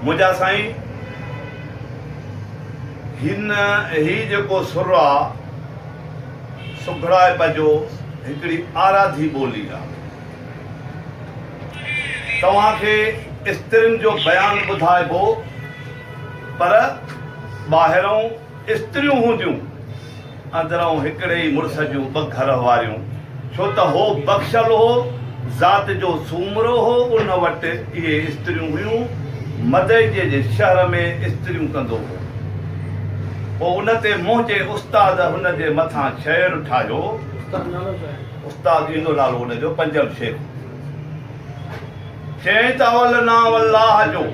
منهنجا سائين هن هي جيڪو سر آ سگهڙائپ جو هڪڙي آراڌي ٻولي آ توهان کي استرين جو بيان ٻڌائبو پر ٻاهرئون استريون هونديون اندرئون هڪڙي ئي مڙس جون ٻه گهر هواريون، ڇو ته هو بخشل هو، ذات جو سومرو هو، ان وٽ اهي استريون هيون، مدئجي جي شهر ۾ استريون ڪندو هو. پوء ان تي منهنجي استاد هن جي مٿان شعر ٺاهيو. استاد نالو ڇا هي؟ استاد ايندو نالو ان جو پنجم شيخ هو. چيائين ته اول نانء الله جو،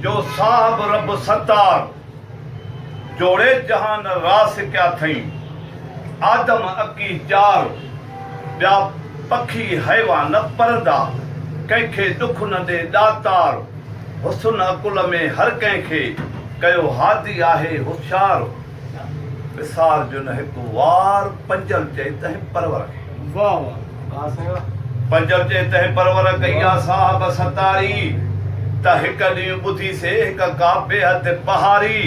جو صاحب رب ستار. جوڙي جهان راس ڪيا ٿئين. آدم اڪي چار، ٻيا پکي حيوان نه پرندا، ڪنهن کي ڏک نه ڏي ڏاتار، حسن عقل ۾ هر ڪنهن کي، ڪيو هادي آهي هوشيار، وسار جو نه هڪ وار، پنجل چئي تنهن پرور کي. واهه واهه. پنجر جي تهه پرور ڪئي آ صاحب ستاري ته هڪ ڏينهن ٻڌي سي هڪ ڪاپي هٿ پهاري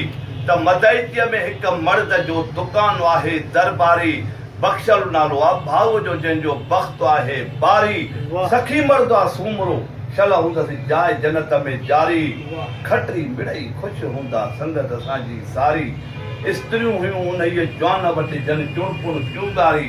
ته مدئتيء ۾ هڪ مرد جو دڪان آهي درباري بخشل نالو آ ڀائوء جو جنهن جو بخت آهي باري سخي مرد آ سومرو شل هوندس جاء جنت ۾ جاري کٽري مڙئي خوش هوندا سنگت سانجهي ساري استريون هيون انهيء جوان وٽ جن چڻپڻ ڪيون ڳاري